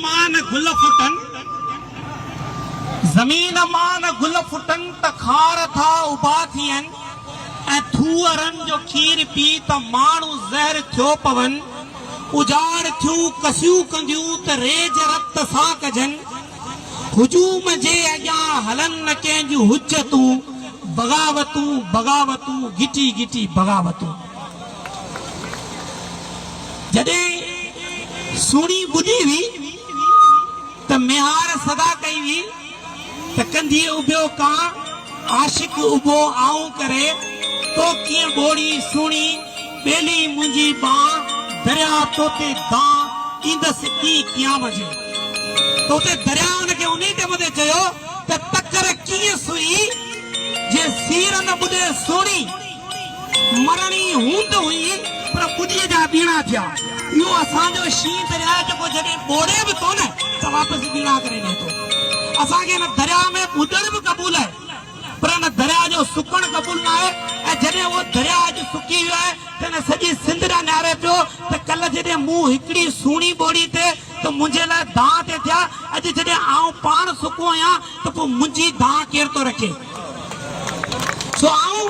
مان گل ڦٽن، زمين مان گل ڦٽن ته خار ٿا اڀا ٿين ۽ ٿوهرن جو کير پي ته ماڻهو زهر ٿيو پون، اجاڙ ٿيون ڪسيون ڪنديون ته ريج رت سان ڪجن، هجوم جي اڳيان هلن نه ڪنهن جون حجتون، بغاوتون، بغاوتون، گهٽي گهٽي بغاوتون. جڏهن سهڻي ٻڌي هئي ته ميهار صدا ڪئي هئي ته ڪنڌيء اڀيو ڪان عاشق اڀو آئون ڪري تو ڪيئن ٻوڙي سهڻي ٻيلي منهنجي ٻانهه درياء توتي دانهن ڏيندس ڪي قيام جي توتي درياء ان کي انهي ٽيم تي چيو ته تڪر ڪيئن سئي جي سير نه ٻڏي سهڻي. مرڻي هوند هئي پر ٻڏيء جا ٻيڻا ٿيا. اهو اسان جو شينهن درياء جيڪو جڏهن ٻوڙي به ٿو نه ته واپس ٻيڻا ڪري ڏئي ٿو. اسان کي ان درياء ۾ ٻڏڻ به قبول آهي پر ان درياء جو سڪڻ قبول نه آهي ۽ جڏهن اهو درياء اڄ سڪي ويو آهي ته ان سڄي سنڌ ڏانهن نهاري پيو ته ڪلهه جڏهن مون هڪڙي سهڻي ٻوڙي تي ته منهنجي لاء دانهن تي ٿيا، اڄ جڏهن آئون پاڻ سڪو آهيان ته پوء منهنجي دانهن ڪير ٿو رکي؟ سو آئون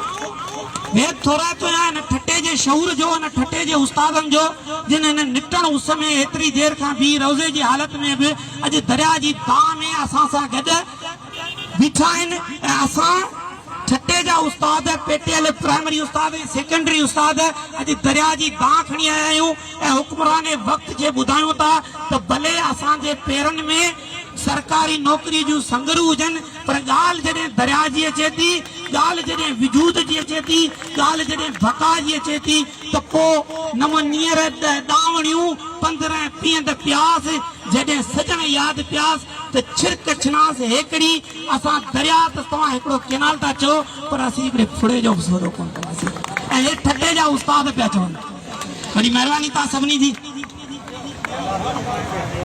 بي ٿورائتو آهيان ان ٺٽي جي شعور جو، ان ٺٽي جي استادن جو، جن هن نٽڻ اس ۾ ايتري دير کان بيهي روزي جي حالت ۾ به اڄ درياء جي دانهن ۾ اسان سان گڏ بيٺا آهن ۽ اسان ٺٽي جا استاد، پيٽيل پرائمري استاد ۽ سيڪنڊري استاد اڄ درياء جي دانهن کڻي آيا آهيون ۽ حڪمران وقت کي ٻڌايون ٿا ته ڀلي اسان جي پيرن ۾ سرڪاري نوڪري جون سنگرون هجن پر ڳالهه جڏهن درياء جي اچي ٿي، ڳالهه جڏهن وجود جي اچي ٿي، ڳالهه جڏهن بقا جي اچي ٿي ته پوء نو نيئر ڏهه ڏاوڻيون پندرهن پيهند پياس جڏهن سڄڻ ياد پياس. ته ڇرڪ ڇڻاس هيڪڙي اسان درياء ته توهان هڪڙو ڪينال ٿا چئو پر اسين هڪڙي ڦڙي جو به سودو ڪونه ڪنداسين ۽ هي ٺٽي جا استاد پيا چون وڏي مهرباني توهان سڀني جي.